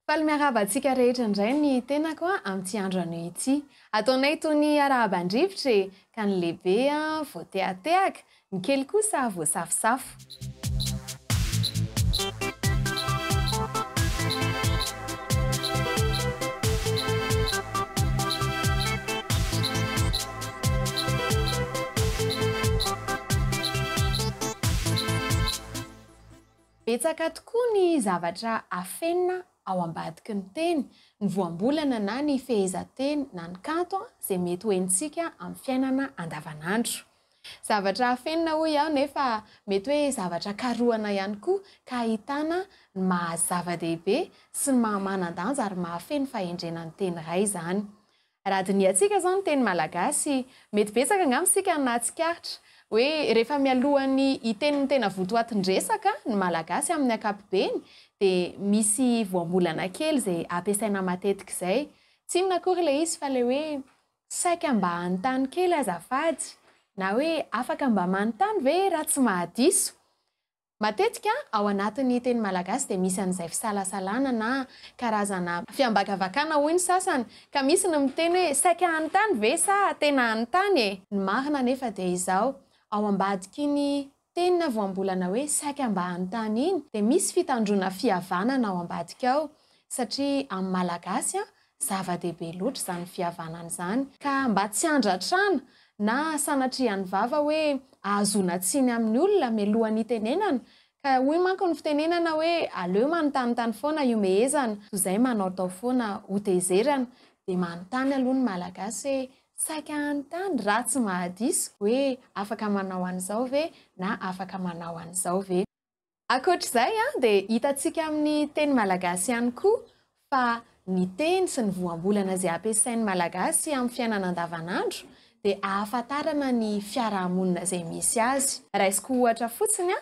Faly miarahaba antsika rehetra indray ny tenako amin'ity andro anio ity. Ataonay toy ny arahaba an-drivotra e, ka ny lehibe voatehatehaka, ny kely kosa voasafosafo. Betsaka tokoa ny zavatra afenina ao ambadiky ny teny, ny voambolana na ny fehezanteny na ny kanto izay mety ho henontsika amin'ny fiainana andavanandro. Zavatra afenina hoy aho nefa mety hoe zavatra karohana ihany koa ka ahitana ny maha zava-dehibe sy ny maha manan-danja ary mahafeno fahendrena ny teny iray izany. Raha dinihantsika izao ny teny malagasy, mety betsaka angamba isika no nahatsikaritra hoe rehefa mialohan'ny hiteny ny tena votoatin-dresaka ny Malagasy amin'ny ankapobeny dia misy voambolana kely izay ampiasaina matetika izay. Tsy inona akory ilay izy fa ilay hoe saika mba hanontany kely azafady na hoe afaka mba manontany ve raha tsy mahadiso? Matetika ao anatin'ny teny malagasy dia misy an'izay fisalasalana na karazana fiambakavakana hoy ny sasany ka misy ny miteny hoe saika any tany ve sa tena any tany e? Ny marina anefa dia izao, ao ambadik'iny teny na voambolana hoe saika mba any tany iny dia misy fitandroana fihavanana ao ambadika ao satria amin'ny malagasy Zava-dehibe loatra izany fihavanana izany, ka mba tsy handratrana na sanatria ny vava hoe ahazoana tsiny amin'ny olona mialohan'ny hitenenana, ka hoy manko ny fitenenana hoe aleo manontanintany foana hihomehezana toy izay manaotao foana hotezerana, dia manontany aloha ny Malagasy hoe saika hanontany raha tsy mahadiso hoe afaka manao an'izao ve na afaka manao an'izao ve. Ankoatra izay dia hitantsika amin'ny teny malagasy ihany koa fa ny teny sy ny voambolana izay ampiasain'ny malagasy amin'ny fiainana andavanandro dia ahafantarana ny fiarahamonina izay misy azy. Raisiko ohatra fotsiny,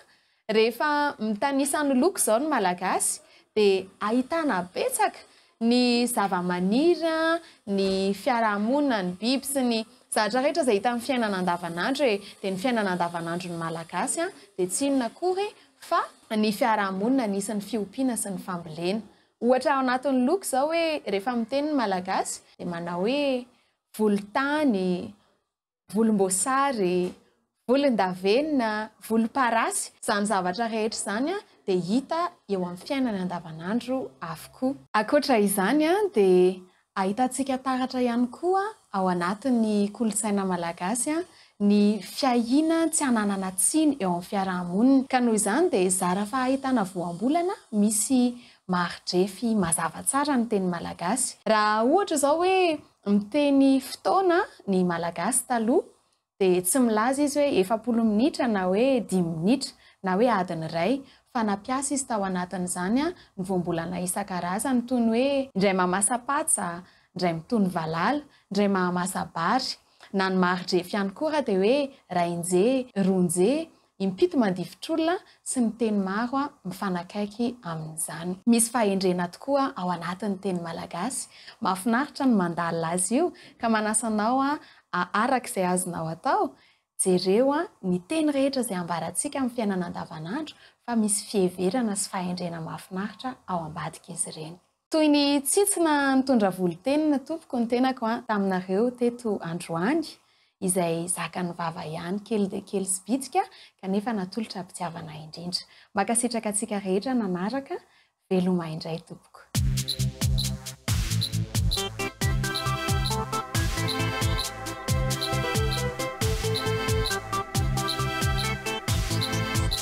rehefa mitanisa ny loko izao ny malagasy dia ahitana betsaka ny zavamaniry, ny fiarahamonina, ny biby sy ny zavatra rehetra izay hita amin'ny fiainana andavanandro e! dia ny fiainana andavanandron'ny Malagasy dia tsy inona akory fa ny fiarahamonina nisy ny fiompiana sy ny fambolena. Ohatra ao anatin'ny loko izao hoe rehefa miteny ny Malagasy dia manao hoe volontany, volomboasary, volondavenona, volomparasy, izany zavatra rehetra izany dia hita eo amin'ny fiainana andavanandro avokoa. Ankoatra izany dia ahitantsika taratra ihany koa ao anatin'ny kolontsaina malagasy ny fiahiana tsy hananana tsiny eo amin'ny fiaraha-monina ka noho izany dia zara fahahitana voambolana misy mari-drefy mazava tsara ny teny malagasy raha ohatra izao hoe Miteny fotoana ny Malagasy taloha dia tsy milaza izy hoe efapolo minitra na hoe dimy minitra na hoe adiny iray fa nampiasa izy tao anatin'izany ny voambolana isan-karazany toy ny hoe, indray mahamasa-patsa, indray mitony valala, indray mahamasa-bary, na ny mari-drefy ihany koa raha dia hoe, ray nje, roa nje, Impito mandifotr'olona sy ny teny maro mifanakaiky amin'izany. Misy fahendrena tokoa ao anatin'ny teny malagasy. Mahafinaritra ny mandalina azy io ka manasa anao araka izay azonao atao, jereo ny teny rehetra izay ambarantsika amin'ny fiainana andavanandro fa misy fiheverana sy fahendrena mahafinaritra ao ambadik'izy ireny. Toy ny tsintsina nitondra volontenina tompoko ny tenako an taminareo teto androany izay zakan'ny vava ihany kely dia kely sy bitika kanefa natolotra am-pitiavana indrindra. Mankasitraka antsika rehetra nanaraka, veloma indray tompoko.